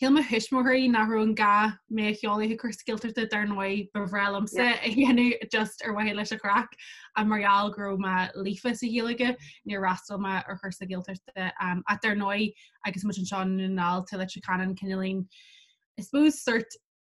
Shíl mo thuismitheoirí nach raibh aon ghá mé a sheoladh chuig cúrsa Gaeltachta dar ndóigh ba bhreá liomsa a dhéanamh just ar mhaithe leis an chraic ach mar gheall go raibh mé líofa sa Ghaeilge níor fhreastail mé ar chúrsa Gaeltachta um, ach dar ndóigh agus muid anseo i nDún na nGall tá Leitir Ceanainn cineál in I suppose sort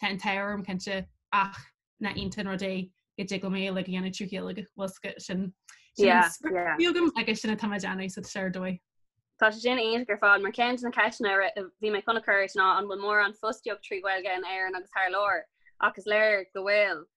Tá an t-ádh orm, cinnte, ach nach iontach an rud é go dtig liom é like a dhéanamh trí Ghaeilge. Bhuel, sc- sin, sin Yeah, an script yeah. a bhí agam agus sin atá mé ag déanamh, so is ar dóigh. Tá sé sin iontach ar fad, mar ceann de na ceisteanna a ra- a bhí mé chun a chur ná an bhfuil mórán fostaíocht trí Ghaeilge in Éirinn agus thar lear, ach is léir go bhfuil.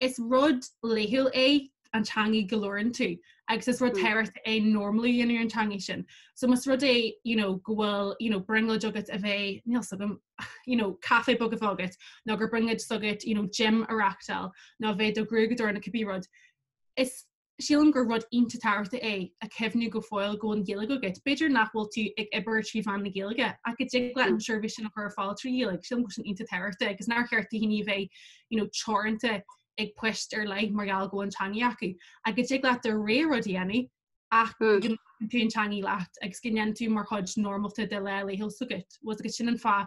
is rud laethúil é an teangaidh go leor iontu agus is rud tábhachtach é normalú a dhéanamh ar an teangaidh sin. So más rud é you know, go bhfuil you know, brionglóid agat a bheith, níl s'agam, you know, caife beag a bheith agat, nó gur brionglóid s'agat you know, gym a reachtáil, nó a bheith do ghruaigeadóir nó cibé rud, is Sílim gur rud iontach tábhachtach é a chuimhniú go fóill go bhfuil an Ghaeilge agat. B'fhéidir nach bhfuil tú ag obair trí mheán na Gaeilge, ach go dtig leat an seirbhís sin a chur ar fáil trí Ghaeilge. Sílim go bhfuil sin iontach tábhachtach agus nár cheart do dhaoine a bheith, you know, teoranta ag poist ar leith mar gheall go bhfuil an teangaidh acu. Ach go dtig leat do rogha rud a dhéanamh ach go dtugann tú an teangaidh leat agus go ndéanann tú mar chuid normalta de leith a laethúil s'agat. Was agus sin an fáth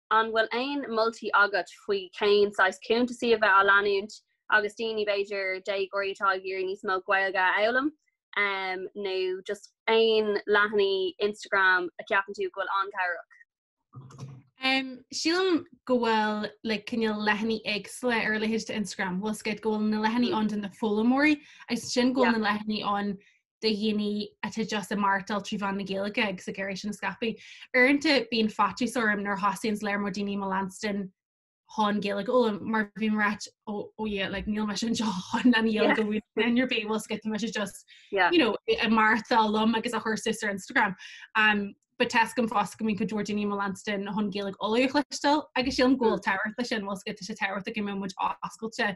An bhfuil aon mholtaí agat faoi cén saghas cuntasaí a bheith á leanúint agus daoine b'fhéidir déagóirí atá ag iarraidh níos mó Gaeilge a fhoghlaim um nó just aon leathanaigh Instagram a cheapann tú go bhfuil an-cabhrach? Um sílim go bhfuil like cineál leathanaigh éagsúla ar a leithéid d'Instagram. Bhfuil a fhios agat go bhfuil na leathanaigh ann do na foghlaimeoirí agus sin go bhfuil na leathanaigh ann de dhaoine atá deas i mbeartail trí mheán na Gaeilge agus ag éirí sin a scaipeadh. Uaireanta bíonn faitíos orm nuair a thosaíonn an léarmóid daoine i mo leanstan hon Gaeilge go fhoghlaim mar bhí mar áit ó ó dhé le níl me sin seo chun an dhéal go bhfuil in your bé bhil scoit me sé just i martá lom agus a chuirsa ar Instagram. Um, ba test gom fás go mín go dúir daoine mo leanstan hon Gaeilge olaíochlistal agus sé an ghil tairt lei sin bhil scoit sé tairt go mé muid oscailte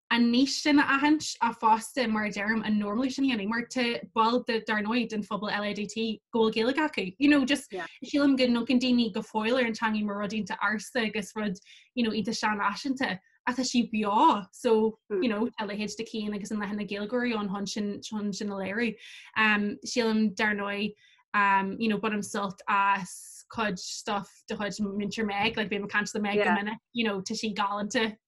an lístin a aithint fosta mar a deirim, an normalú sin a dhéanamh, mar tá baill de, dar ndóigh, den phobal LADT go bhfuil Gaeilge acu. You know, just, sílim go n-amharcann daoine go fóill ar an teangaidh mar rud iontach ársa agus rud, you know, iontach seanfhaiseanta, ach tá sí beo, so, you know, tá leithéid de Cian agus an leathanach Gaylgeoirí ann chun sin, chun sin a léiriú. Um, sílim, dar ndóigh, um, you know, bainim sult as cuid stuff de chuid Múinteoir Meg, like, bím ag caint le Meg go minic, you know, tá sí galánta,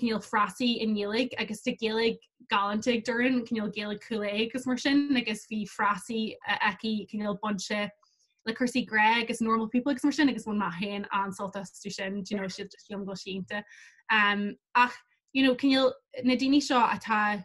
cineál frásaí i nGaeilge agus tá Gaeilge galánta ag Doireann, cineál Gaeilge Chúil Aodha agus mar sin, agus bhí frásaí aici, cineál bainte le cúrsaí grá agus normal people agus mar sin, agus bhain mé féin an-sult astu sin, do you know, siad just fíon go sínte. Um, ach, you know, cineál na daoine seo atá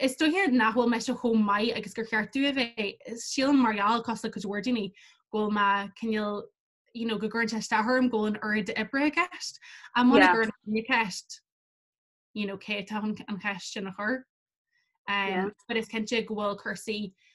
Is dóiche nach bhfuil mise chomh maith agus gur cheart domh a bheith. Sílim mar gheall cosúil le cuid mhór daoine go bhfuil mé cineál, you know, go gcuireann sé isteach orm go bhfuil an oiread oibre i gceist. Ach muna gcuirim an cheist, you know, cé atá chun an cheist sin a chur? But is cinnte go bhfuil cúrsaí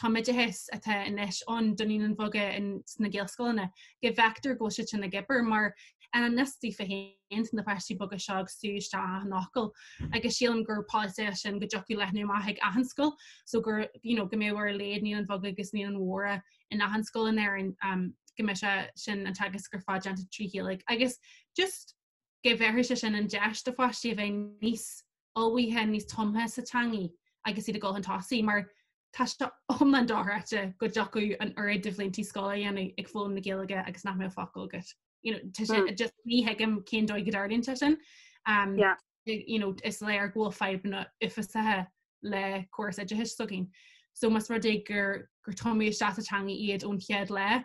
tumoideachas atá anois ann do naíonáin bheaga sna gaelscoileanna go bhfeictear go bhfuil siad sin ag obair mar honestly feiceann tú na páistí beaga seo ag sú isteach achan fhocal agus sílim gur polasaí é sin go dtiocfadh leathnú amach ag achan scoil so gur you know, go mbeadh ar a laghad naíonáin bheaga agus naíonáin mhóra in achan scoil in Éirinn um, go mbeadh sé sin an teagasc ar fad déanta trí Ghaeilge agus just go bhéarfadh sé sin an deis do pháistí a bheith níos ullmhaithe níos tumtha sa teangaidh agus iad ag dul chun tosaigh mar tá sé iomlán dochreidte go dtiocfadh an oiread de bhliantaí scoile a dhéanamh ag foghlaim na Gaeilge agus nach mbeadh focal agat. You know, tá sé, hmm. just ní thuigim cén dóigh go dtarlaíonn sé sin. Um, yeah. you know, is léir go bhfuil fadhbanna uafásacha le córas oideachais s'againn. So mas rud é gur gur tumadh isteach sa teangaidh iad ón chéad lá,